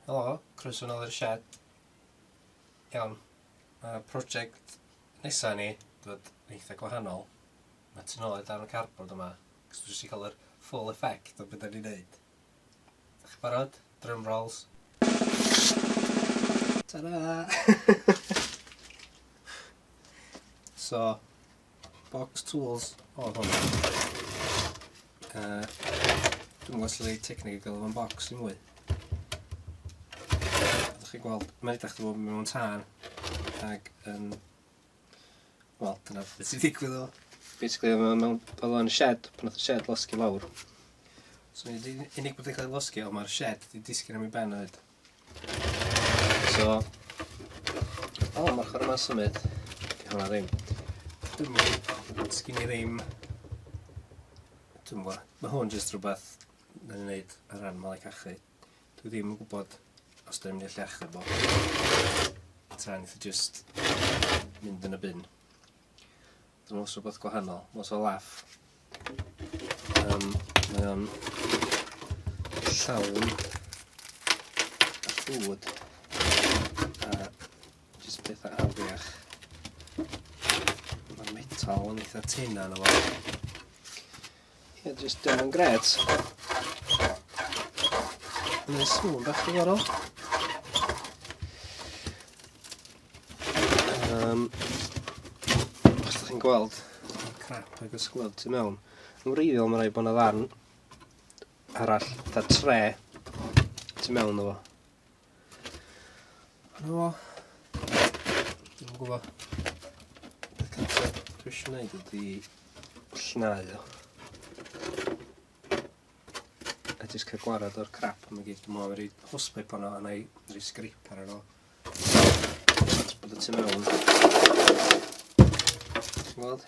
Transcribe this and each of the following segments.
Helo, croeso nol i'r sied. Iawn, ma' project nesa ni dod yn eitha gwahanol. Ma' tu nôl i'r darn o cardboard yma, cos dwi jyst i ca'l yr full effect o be' 'dan ni'n neud. Dach chi barod? Drum rolls. Ta-ra! So, box tools o hwn. Uh, dwi'n gwybod sy'n ei technic i gael o'n box i mwy. Ydych chi'n gweld, mae'n edrych bod mewn tân ac yn... Wel, dyna beth sy'n digwydd o. Basically, mae'n mewn... Oedd o'n shed, pan oedd y shed losgi lawr. So, unig bod yn cael ei losgi, ond mae'r shed wedi disgyn am ei ben o hyd. So... O, oh, mae'r chwarae ma'n symud. Di hwnna ddim. Dwi'n mwyn, sgyn i ddim... Dwi'n mwyn, mae hwn jyst rhywbeth na ni'n neud ar ran malau cachu. Dwi ddim yn gwybod os dwi'n mynd i allu achub o. Tra nid i jyst mynd yn y bin. Dyma os rhywbeth gwahanol, os o laff. Um, mae o'n llawn a llwyd a jyst pethau afiach. Mae metal yn eitha tena na fo. Ie, jyst dim yn gret. Mae'n sŵn bach diddorol. Um, os ydych chi'n gweld crap ac ysglod tu mewn, yn wreiddiol mae'n rhaid bod yna ddarn arall, da tre, tu mewn o fo. Dyna fo. Dwi'n yn gwybod. Beth cyntaf dwi eisiau gwneud ydy llnau o. A jyst cael gwarad o'r crap yma gyd. Dwi'n meddwl rhaid hwsbep hwnna a na i rhaid sgrip ar yno. Bod y tu mewn. Ti'n gweld?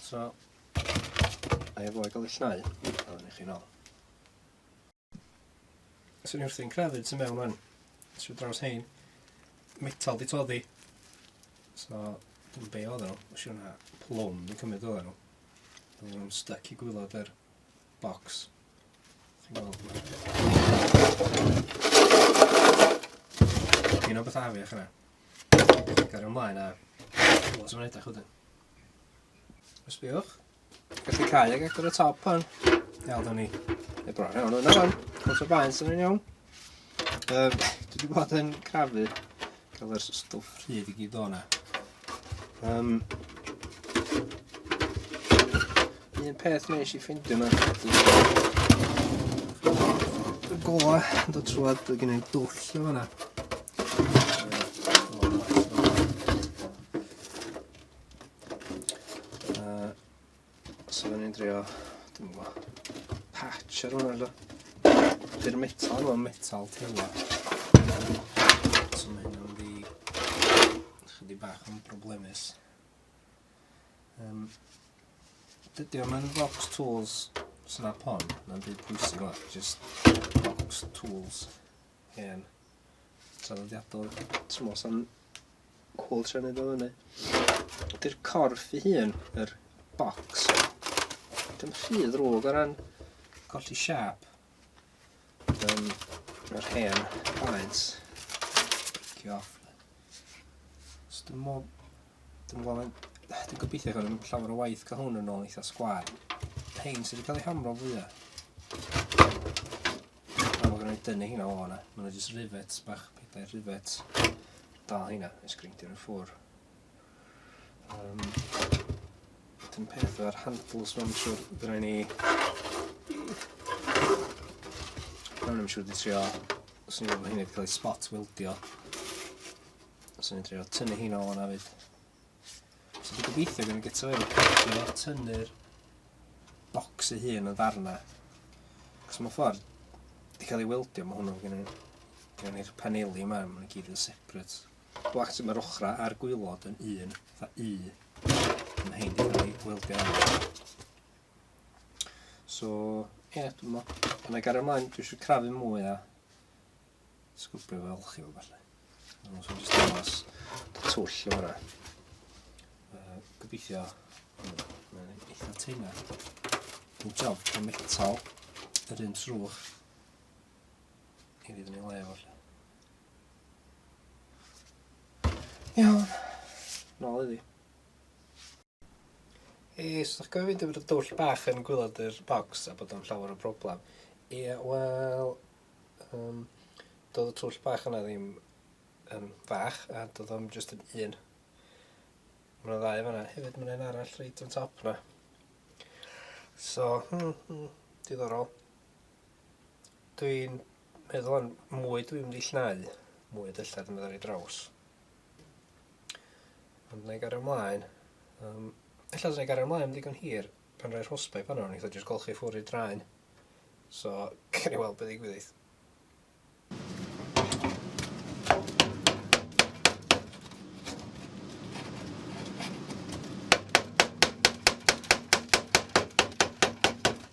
So, a efo i gael ei llnau, a ni chi nol. Swn i wrthi'n crefyd sy'n mewn o'n. Swn draws hein. Metal di toddi. So, dwi'n be oedd nhw. Os yw'n plwm di cymryd oedd nhw. Dwi'n nhw'n stuck i gwylod yr box. Chi'n gweld? Dwi'n o beth afi o'ch yna. Gair ymlaen a... Wel, sy'n edrych wedyn. Sbïwch. Gallu cael ag agor y top hwn. Iawn, da ni. E bron iawn hwnna fan. Cwrs o baen sy'n iawn. Um, dwi wedi bod yn crafu cael yr stwff rhyd i gyd o'na. Um, un peth nes i ffeindio yna. Y gola yn dod trwad, dwi'n gwneud dwll o fanna. Uh, so fydden ni'n drio, dim yn gwybod, patch ar hwnna edo. Dy'r metal yma, metal teimlo. So mae hynny'n di, chydig bach yn problemus. Um, dydy o'n mynd box tools snap on, na'n byd pwysig o, just box tools. Hen. Traddodiadol. Ti'n meddwl sy'n cwl tra wneud o fyny. Ydy'r corff i hun, yr box, dim rhy ddrwg o ran colli siap. Um, yr hen baent. Cio off. So dim mo... Dim mo... Dwi'n gobeithio gael yn llawer o waith cael hwn yn ôl eitha sgwar. Hein sydd wedi cael ei hamro fwyaf. A mae gen i dynnu hynna o hwnna. Mae yna jyst rivets bach, pedair rivet. Da hynna, nes greindio nhw ffwr. Um, Dyn peth o'r handles mewn siwr, dyna ni... Mewn am siwr di trio, os ni'n gwybod hynny wedi cael ei spot wildio. Os ni'n trio tynnu hynna o hwnna fyd. So dwi'n gobeithio gen i gyto efo peidio o tynnu'r bocs ei hun yn ddarna. Cos mae'n ffordd, di cael ei weldio, mae hwnnw gen i. Gen i'r paneli yma, mae'n gyd yn separate. Black mae'r ochra a'r gwylod yn un, fa u. Mae'n hyn di cael ei weldio arno. So, ie, yeah, dwi'n meddwl. Yna gario ymlaen, dwi eisiau crafu mwy a Sgwbio fo elchi fo falle. Ond os oes dangos dy twll o hwnna. Uh, gobeithio, mae'n eitha teina. Dwi'n job o metal, yr un trwch. I ddyn ni le falle. Iawn, nôl iddi. Yy, os ydych gofyn i mi fod dwll bach yn gwylod yr bocs a bod o'n llawer o broblem, ie, wel, um, doedd y twll bach yna ddim yn fach, a doedd o'n just yn un. Mae yna ddau fanna, hefyd mae yna arall reit yn top yna. So, hmm, hmm, diddorol. Dwi'n meddwl yn mwy dwi'n mynd i llnau mwy o dyllar yn meddwl i draws. Ond na i gario ymlaen. Um, ella dda i gario ymlaen yn ddigon hir pan rhoi'r hosbau pan o'n i dda jyst golchi ffwr i draen. So, cael ei weld beth i gwyddoedd.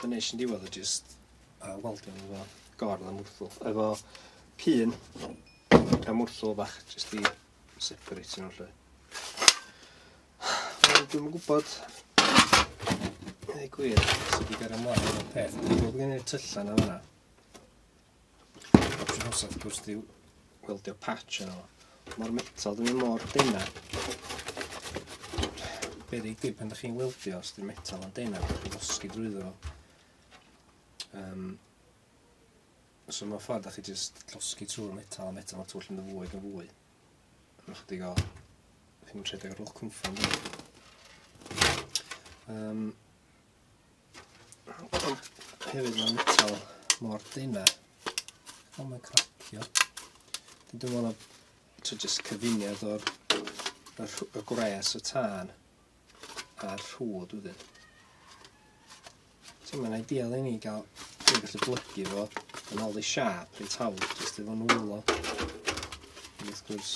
Be nes i'n diwedd o jyst uh, weldio nhw efo gordd a mwrthwl. Efo pun a mwrthwl bach jyst i separate nhw lle. Dwi'n gwybod ei gwir sydd wedi gael ymlaen o'r peth. Dwi'n gwybod gen i'r tyllan o fanna. Dwi'n hoffi wrth gwrs di gweldio patch yna fo. Mae'r metal ddim mor dena. Be ddi di pan da chi'n weldio os di'r metal yn dena, da chi'n osgu drwyddo. Um, so mae'n ffordd da chi jyst llosgu trwy'r metal a metal a twll yn fwy ac yn fwy. Mae'n chydig o... Chi'n rhedeg ar ôl cwmffon. Um, Ond hefyd mae'n metal mor dyna. Ond mae'n cracio. Dwi'n meddwl na to just cyfuniad o'r y, y gwres y tân a'r rhwyd wedyn. So mae'n ideal i ni gael dwi'n gallu blygu fo yn ôl i siap reit hawdd jyst efo nwylo. Wrth gwrs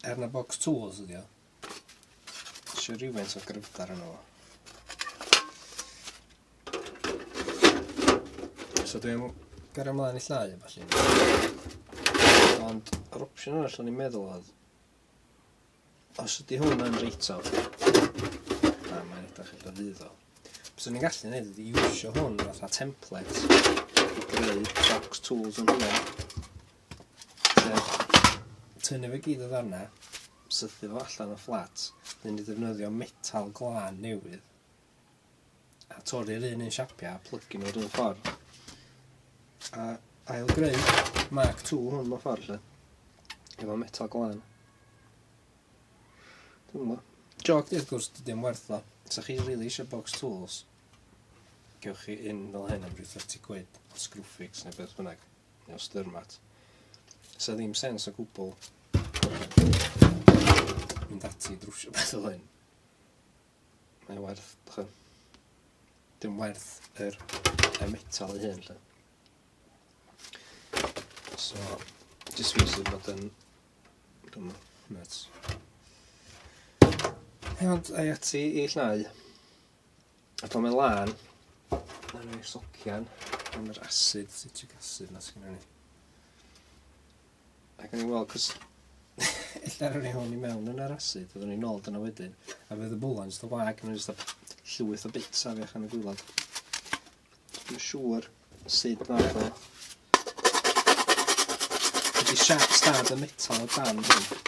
er na box tools ydi o, Eisiau rhywfaint o gryfder yno fo. So dwi'n gyrra mlaen i llai a falle. Ond yr opsiwn arall o'n i'n meddwl oedd os ydy hwn yn reit o na mae'n edrych eitha ddydd o bys o'n i'n gallu gwneud ydy iwsio hwn fatha template i greu box tools yn hwnna Sef, tynnu fe gyd o ddarna, sythu fo allan o fflat, wedyn ni ddefnyddio metal glân newydd, a torri'r un un siapia, a plygu nhw rhywun ffordd. A ail greu Mark 2 hwn mewn ffordd lle, efo metal glân. Dwi'n gwybod. Joc di, wrth gwrs, dydy o'n werth o. Sa chi really eisiau box tools, gewch chi un fel hyn am rhyw 30 quid, screwfix neu beth bynnag. Neu os dyrmat. Sa ddim sens o gwbl. Mynd ati drwsio beth o hyn. Mae'n werth, dych Dim werth yr, y metal ei hyn, lle. So, jyst fi sydd bod yn... Dwi'n nuts. Ond, ai ati i llnau. A pan mae'n lan, mae'n rhoi socian am yr asid, citric acid na sy'n rhoi. Ac yn ei weld, cos illa rhoi hwn i mewn yn yr asid, oeddwn i'n ôl dyna wedyn, a fydd y bwlan jyst o wag, mae'n jyst llwyth o bits a fiach yn y gwylod. Dwi'n siŵr sut mae fe. Ydy siap stad y metal o dan hwn.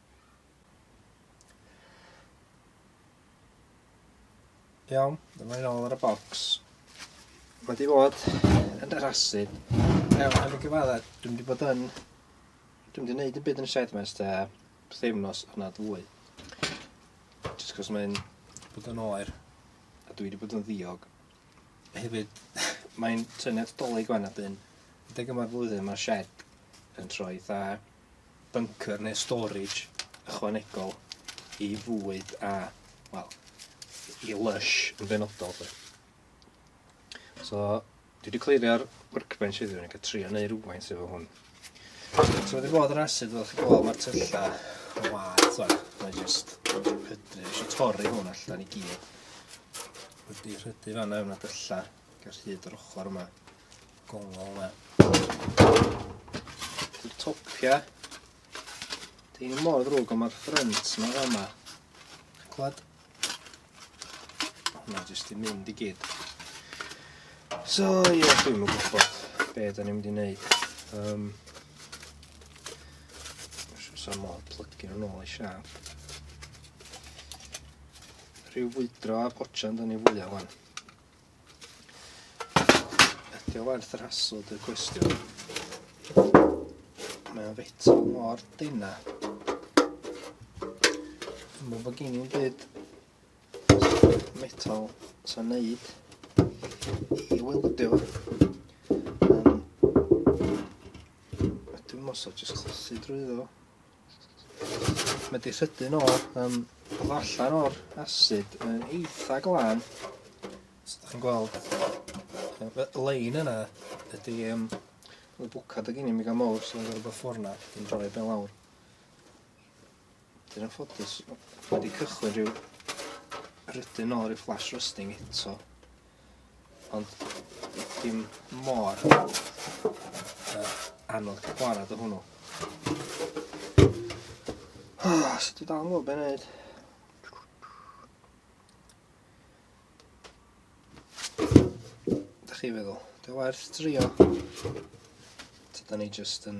Iawn, dyma ni ôl ar y bocs. Mae di fod yn yr asid. Iawn, yn y gyfaddau, dwi'n di bod yn... Dwi'n di wneud y byd yn y shed mes da, bytheimnos yna dwy. Just cos mae'n bod yn oer, a dwi wedi bod yn ddiog. Hefyd, mae'n tynnu at dolyg fan adyn. Deg yma'r flwyddyn, mae'r shed yn troi eitha bunker neu storage ychwanegol i fwyd a, wel, i lush yn benodol. Fe. So, dwi wedi clirio'r workbench heddiw, ni'n cael trio neu rhywfaint efo hwn. So, wedi bod yr asid, fel chi gweld, mae'r tyllau yn wad, so, mae'n just hydru. Eisiau torri hwn allan i gyd. Wedi rhydu fanna yna tyllau, gyda'r hyd yr ochr yma. Gongol e. Dy'r topia. Dyn nhw mor ddrwg ond mae'r ffrynt yma fel yma. Chi'n clywed? Hwna jyst i mynd i gyd. So ie, yeah, dwi'n mynd gwybod be da ni'n mynd i wneud. Um, Sa modd plygio nhw'n ôl i siaf. Rhyw fwydro a gojan da ni fwyaf fan. Ydy o werth yr hasl dy cwestiwn? Mae o'n feto mor dena. Mae fy gen i'n byd metal sy'n neud i weldio. Um, dwi'n mos o jyst chlosu drwy ddo. Mae di sydyn o, um, allan o'r asid yn eitha glân. Os ydych chi'n gweld, y lein yna ydy um, y bwcad ag inni mi gael mawr sy'n gorfod bod ffwrn na, yn droi ben lawr. Dyn yn ffodus, mae wedi cychwyn rhyw rydyn ôl rhyw flash rusting eto. Ond dim mor uh, anodd cael gwared o hwnnw. Oh, so dwi dal yn gwybod beth wneud. Da chi feddwl, dwi werth drio. Tyda ni jyst yn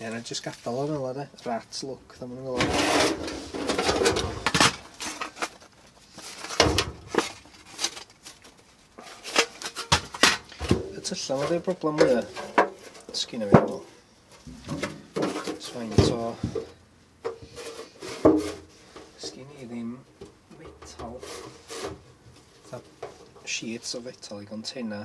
Ie, na jyst gadael o fel yna, Rat look, dda maen nhw'n fel Y tyllau yma fi'r broblem mwya. Sgyn o fi fel. Swain to. Sgyn i ddim metal. Tha sheets o fetal i container.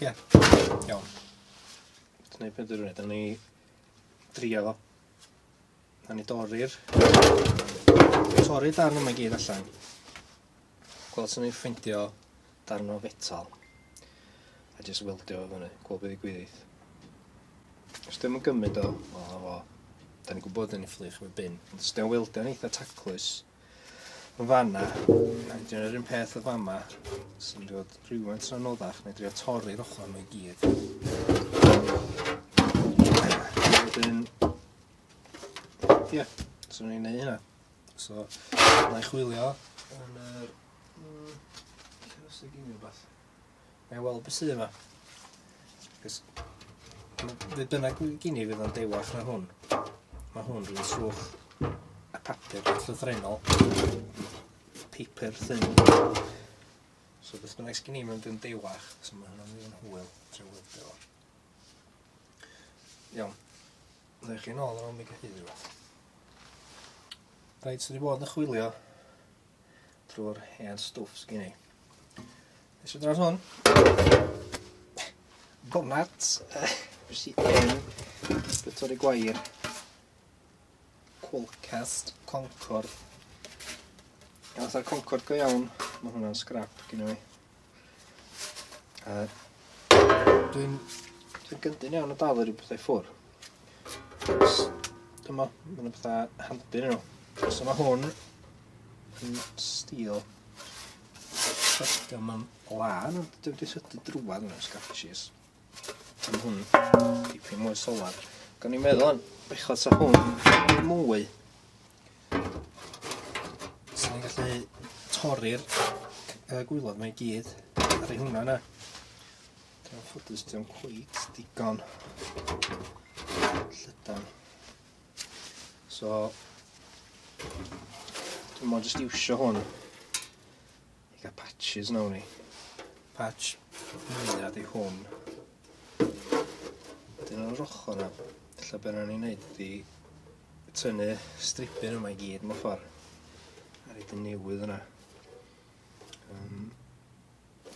Ie. Iawn. Ti'n neud beth ydyn ni? drio fo. A ni dorri'r... Torri darn yma i gyd allan. Gweld sy'n ei ffeindio darn o fetal. A jyst weldio fo fyny. Gweld beth i gwyddill. Os dim yn gymryd o, o, o. Da ni'n gwybod yn ei fflych efo bin. Ond os dim yn weldio yn eitha taclus, yn fanna, ac dyna'r un peth o fama, sy'n dod rhywun tra noddach, neu drio torri'r ochr nhw i gyd. Wedyn, ie, yeah, so ni'n neud hynna. So, na i chwilio yn yr... Mm, lle os y gynnu rhywbeth? Mae weld beth sydd yma. Cys... Fe bynnag gini fydd o'n dewach na hwn. Mae hwn rhywun swch a papur llythrenol. Paper thyn. So beth bynnag sgyn i mewn dyn dewach. So mae hwnna'n mynd yn hwyl. Trwy weld o. Iawn. Rhaid chi'n ôl ar ôl mi gyhyd rhywbeth. Rhaid sydd wedi bod yn chwilio trwy'r hen stwff sydd gen i. Nes i dros hwn. Bonat. Nes i en. Bytor i gwair. Qualcast Concord. Gael fatha'r Concord go iawn. Mae hwnna'n scrap gen i. A dwi'n dwi'n gyndyn iawn o dal yr pethau ffwr. Dyma, mae'n yna pethau handi nhw. So mae hwn yn stil syrtio mewn lan, ond dwi wedi syrtio drwad mewn sgatshis. Mae hwn tipyn mwy solar. Gan i'n meddwl yn bechod sa hwn mwy. Sa ni'n gallu torri'r gwylod mae gyd. Ar ei hwnna yna. Dwi'n ffodus dwi'n cweit digon llydan. So, dwi'n mwyn jyst iwsio hwn I gael patches nawr ni. Patch mwynhad i hwn. Dyn o'r ochr na. Lle beth ni'n neud ydi tynnu stripyn yma i gyd mewn ffordd. A rhaid yn newydd yna. Um,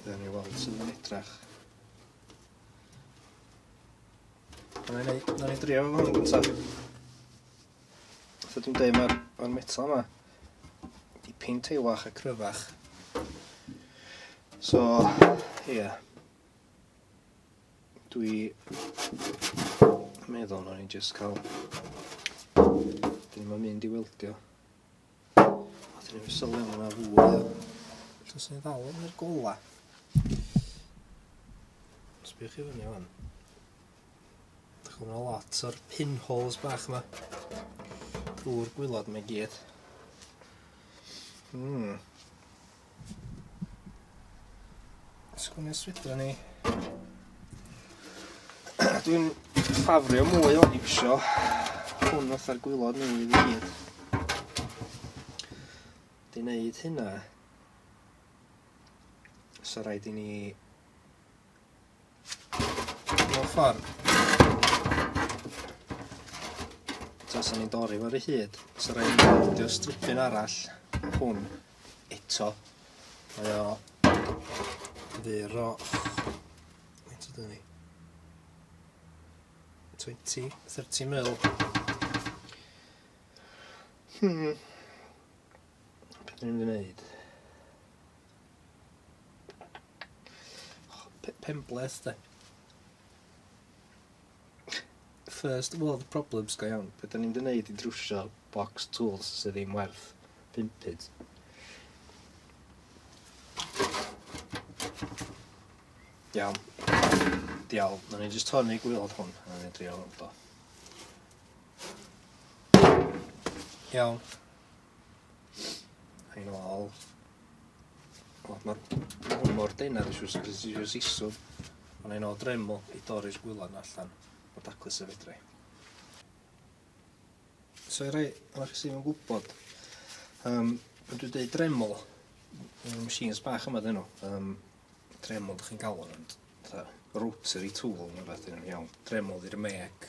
Dyn ni weld sydd yn edrach. Dyna ni, dyna ni drio fo hwn gyntaf. So dwi'n dweud mae'r ma metal yma dipyn teilwach a cryfach. So, ie. Yeah. Dwi meddwl na ni'n just cael dyn nhw'n mynd i weldio. A dyn nhw'n sylwi am hwnna fwy. Os ni'n ddal yn yr gola. Sbych i fyny o'n. Chwna lot o'r pinholes bach yma. Drwy'r gwylod mae gyd. Mm. Sgwni swydra ni. Dwi'n ffafrio mwy o'n iwsio hwn fatha'r gwylod newydd i gyd. Di wneud hynna. So rhaid i ni Mewn ffordd. Os o'n i'n dorri fo'r hyd, os o'n i'n goldio stripyn arall, hwn, eto, mae o fyr o... Faint ydyn ni? 20, 30 mil. Hmm. Beth ni'n mynd i wneud? Penbleth de. First world problems go iawn. Be da ni'n di wneud i drwsio box tools sydd ddim werth 5 pyd? Iawn. Diawl. Na ni jyst hon i gwylod hwn. Na ni drio hwn do. Iawn. Rhain ôl. O, mae'r hwn mor dena, dwi siwr sy'n siwr sisw. Ond ein ôl dremol i dorri'r gwylod na allan o daclus y fedrai. So i rai o'r sy'n yn gwybod, um, pan dwi'n dweud dremol, yn machines bach yma dyn nhw, um, dremol dych chi'n galw nhw, rotary tool neu beth yn iawn, dremol i'r mec,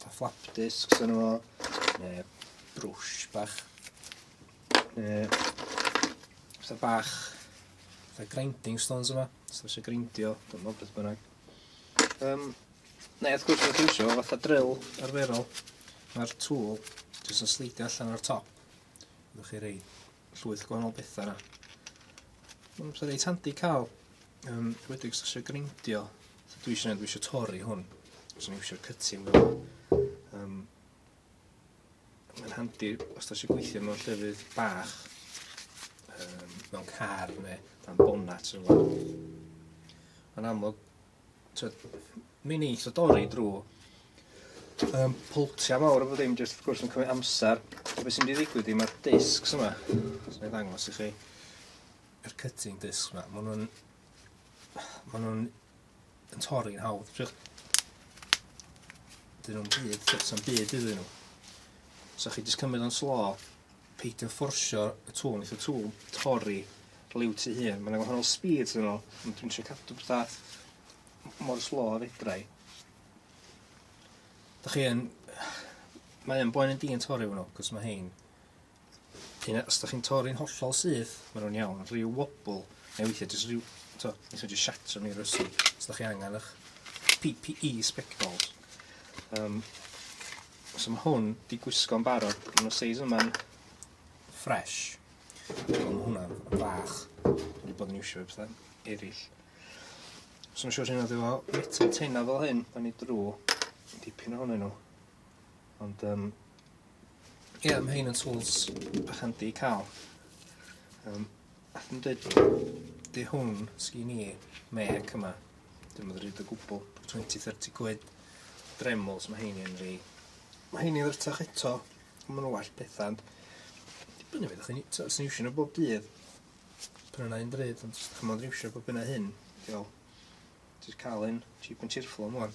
Ta flap discs yn o, neu brwsh bach, neu fatha bach, fatha grinding stones yma, os eisiau grindio, dwi'n meddwl beth bynnag. Um, neu wrth gwrs mae'n eisiau fatha drill arferol, mae'r tŵl jyst yn sleidio allan o'r top. Ydych chi rei llwyth gwahanol bethau yna. Mae'n amser reit handi cael, um, wedi os eisiau greindio. So, dwi eisiau, dwi eisiau torri hwn. Os o'n eisiau cytio fel. Um, mae'n handi os da eisiau gweithio mewn llefydd bach, um, mewn car neu dan bonat. Mae'n amlwg Tyd, mi'n neis o dorri drwy um, pwltiau mawr efo ddim, jyst wrth gwrs yn cymryd amser. A beth sy'n mynd i ddigwydd i mae'r discs yma, os mae'n ddangos i chi, yr cutting discs yma, maen nhw'n maen nhw'n yn torri'n hawdd. Dyn nhw'n byd, sy'n byd iddyn nhw. So chi jyst cymryd o'n slo, Peidio fforsio y tŵl, neith y tŵl torri liw tu hun. Mae'n gwahanol speeds yn ôl, ond dwi'n trio cadw pethau mor slo a fedra i. Da chi yn... Mae un boen yn di yn torri hwnnw, cos mae hein... Cyn os da chi'n torri'n hollol syth, mae nhw'n iawn, ond rhyw wobl, neu weithiau jyst rhyw... To, neith nhw jyst siatro ni rysw, os da chi angen eich PPE spectols. Um, So mae hwn di gwisgo'n barod, mae'n o seis yma'n fresh. So mae hwnna'n fach, wedi bod yn iwsio fe bethau eraill. So mae'n siŵr sy'n edrych fel metal teina fel hyn, da ni drw dipyn ohonyn nhw. Ond, um, ie, yeah, mae hyn yn tools bach handi i cael. Um, Nath nhw deud wrtho fi, 'di hwn sgin i, mêc yma, dio'm yn ddrud o gwbwl, twenty thirty quid, Dremels ma' heini yn rei. Ma' heini ddrutach eto, ond ma' nhw'n well petha, ond dibynnu beth chi'n i- t'o' os ti'n iwsio nhw bob dydd, prynu yna un ddrud, ond os 'dach chi mond yn iwsio bob hyn a hyn, ti fel, ti jys ca'l un cheap and cheerful am ŵan.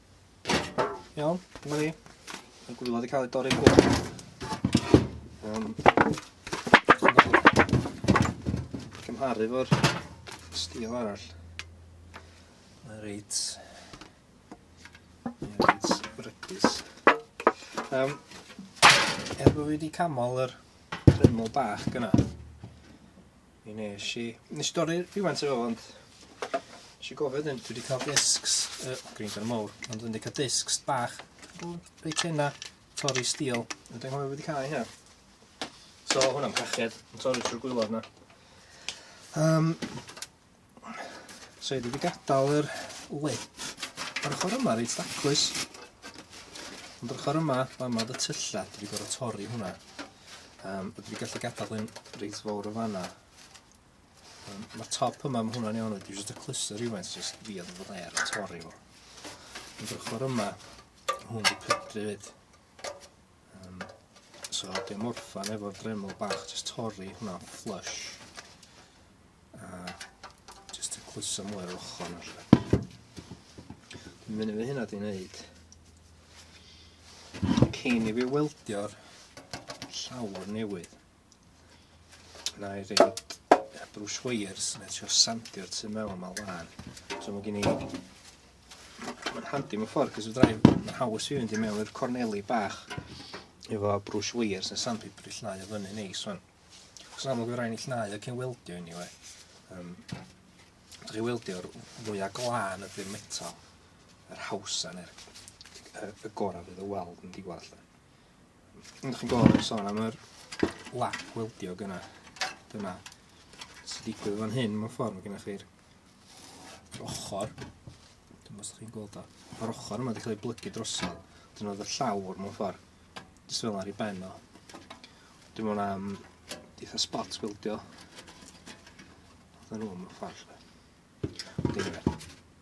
Iawn, dyma ni. Mae'n gwybod wedi cael ei dorri gwrdd. Um, cymharu fo'r stil arall. Mae'n reit... Mae'n reit brydus. Um, er bod fi wedi camol yr dremel bach gyna, Mi nes i... Nes i dorri rhywfaint o fo, ond... Nes i gofio wedyn, dwi wedi cael discs, y uh, grinder mowr, ond dwi wedi cael discs bach, reit hynna, torri steel, a dwi'n hwyl wedi cael hynna. So, hwnna'n pached, yn torri trwy'r gwylod yna. Um, So dwi wedi gadael yr lip ar ochr yma reit daclus. Ond ar ochr yma, fan yma oedd y tyllau, dwi wedi gorfod torri hwnna. Um, dwi wedi gallu gadael hyn reit fawr o fanna. Um, Mae'r top yma, mae hwnna'n iawn, dwi wedi cluster rhywfaint, jyst fi oedd fod air a torri fo. Ond ar ochr yma, hwn wedi pydru fyd. Um, so, dim orffan efo'r dremel bach, jyst torri hwnna flush. A jyst y clusa mwy o'r ochr yna. Mynd fi hynna di wneud. Cyn i fi weldio'r llawr newydd. Na i rei brwsh wires, na i trio sandio'r tu mewn yma lan. So mae gen i... Mae'n handi mewn ffordd, cos fydra i... Mae'n haws i fynd i mewn i'r corneli bach efo brwsh wires a sandpaper i llnau o fyny neis fan. Os amlwg fydra i'n llnau ac yn weldio i ni we. Um, Dych chi weldio'r fwyaf glân ydy'r metal, yr hawsa neu'r y, y gorau fydd y weld yn diwall. Ond chi'n gwybod beth sôn am yr lap weldiog yna. Dyna sy'n digwydd fan hyn, mewn ffordd, mae gennych chi'r ochr. Dwi'n meddwl chi'n gweld o. Mae'r ochr yma wedi cael ei blygu drosodd. Dyna oedd y llawr mewn ffordd. Jyst fel ar ei ben o. Dwi'n meddwl am eitha spot weldio. Dyna nhw mewn ffordd. Dwi'n meddwl.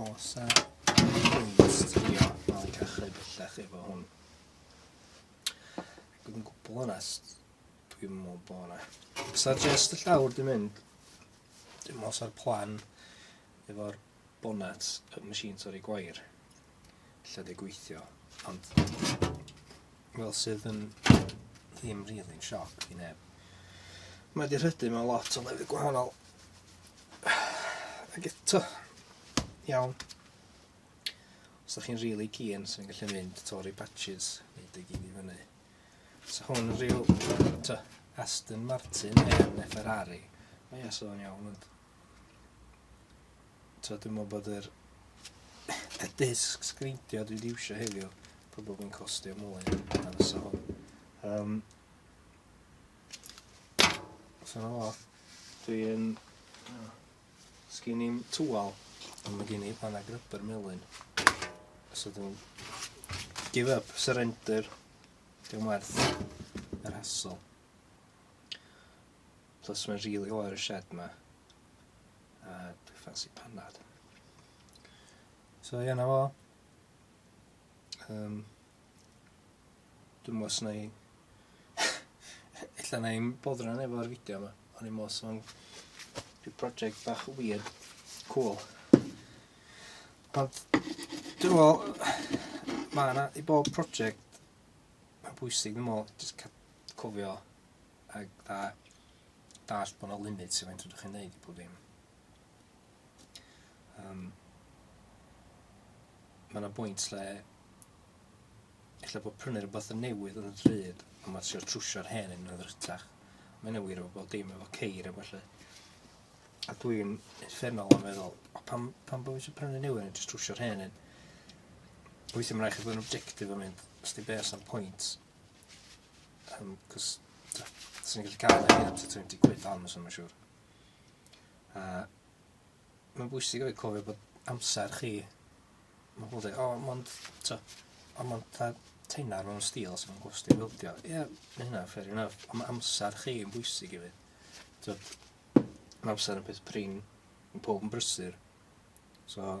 Os a ystrio fel cachu bellach efo hwn. Dwi'n gwbl onest, dwi'n meddwl bod yna. Os a just y llawr dwi'n mynd, dwi'n meddwl sa'r plan efo'r bonnet y machine torri gwair. lle dwi'n gweithio, ond fel sydd yn ddim rili'n sioc i neb. Mae wedi rhydu mewn lot o lefydd gwahanol. Ac eto, iawn. Os ydych chi'n rili really keen, sy'n gallu mynd tori patches, neu dy gyd i fyny. So hwn rhyw, to, Aston Martin neu Ferrari. Mae eso'n iawn, ond... So dwi'n meddwl bod yr y disc sgrindio dwi wedi iwsio heddiw probably yn costio mwy na fysa hwn. Um, so na fo. Dwi'n... Oh, Sgyn i'n tŵal, ond mae gen i pan ag rybr melyn. So dwi'n give up, surrender. Dwi'n werth yr hassle. Plus mae'n rili oer y shed ma. A dwi ffansi panad. So ie na fo. Um, dwi'n mwyn os na i... Ella na i'n boddran efo'r fideo yma. O'n i'n mwyn sôn rhyw project bach weird, cool. Ond dwi'n mwyn... Mae yna i bob project mae'n bwysig dwi'n mwyn just cofio A fatha, dallt bod 'na limit i faint fedrwch chi wneud i pob dim. Um, mae yna bwynt lle lle bod prynu rhywbeth yn newydd yn y dryd a mae trio trwsio'r hen yn ddrytach. Mae yna wir efo bod dim efo ceir efo lle. A dwi'n effernol am meddwl, o pam, pam bod eisiau prynu newydd yn just trwsio'r hen yn. Weithiau mae'n rhaid chi fod yn objectif am mynd, os di beth sy'n pwynt, Um, cos, sy'n gallu cael ei am 20 quid am, sy'n mae'n siŵr. Uh, mae'n bwysig o'i cofio bod amser chi, mae pobl dweud, o, oh, mond, to, o, mond ta teinar mewn stil sy'n mynd gwsti bildio. Ie, yeah, mae hynna, fair enough. Ond mae amser chi yn bwysig i fi. To, mae amser yn peth prin, yn pob yn brysur. So,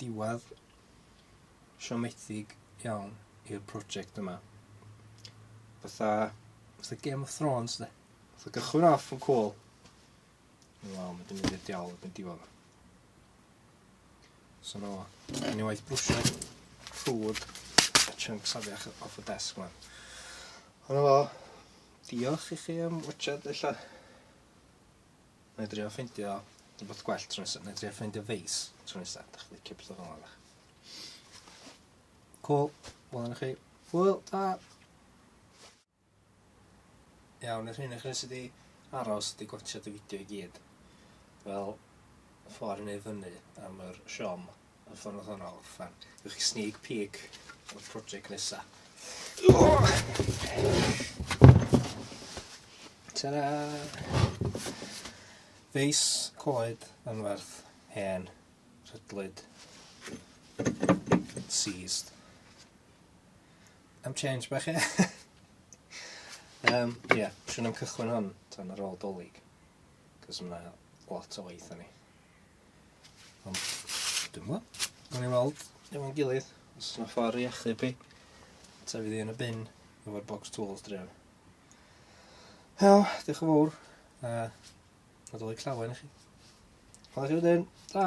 diwedd siomedig iawn i'r project yma. Fatha, fatha Game of Thrones, de. Fatha gychwyn off yn cool. Wel, mae dim yn i'r diawl yn diwedd. So no, ni waith brwsio ffrwd a chunks afiach off y desk yma. Ond efo, diolch i chi am watchad, illa. Nai drio ffeindio rwbeth gwell tro nesa. Nai drio ffeindio feis tro nesa. Dach chi'n licio pethau fel yna. Cool. Wel yna chi. Hwyl, ta! Iawn, nes mynd i chi sydd wedi aros, wedi gwachio dy fideo i gyd. Fel, ffordd i wneud fyny am yr siom. Y ffordd hwnna o orffan. Ydych chi sneak peek o'r prosiect nesa. Ta-da! Feis, coed, anferth, hen, rhydlyd, seized. Am change bach e. um, yeah, siwn am cychwyn hwn tan ar ôl dolyg. Cos yna lot o waith o'n i. Ond, dwi'n gwybod. Gawn ni weld efo'n gilydd, os yna ffordd i achub i. Ta fydd hi yn y bin efo'r box tools dref. Hel, diolch yn fawr. A, a dod i clawen i chi. Hwyl i chi wedyn. Ta!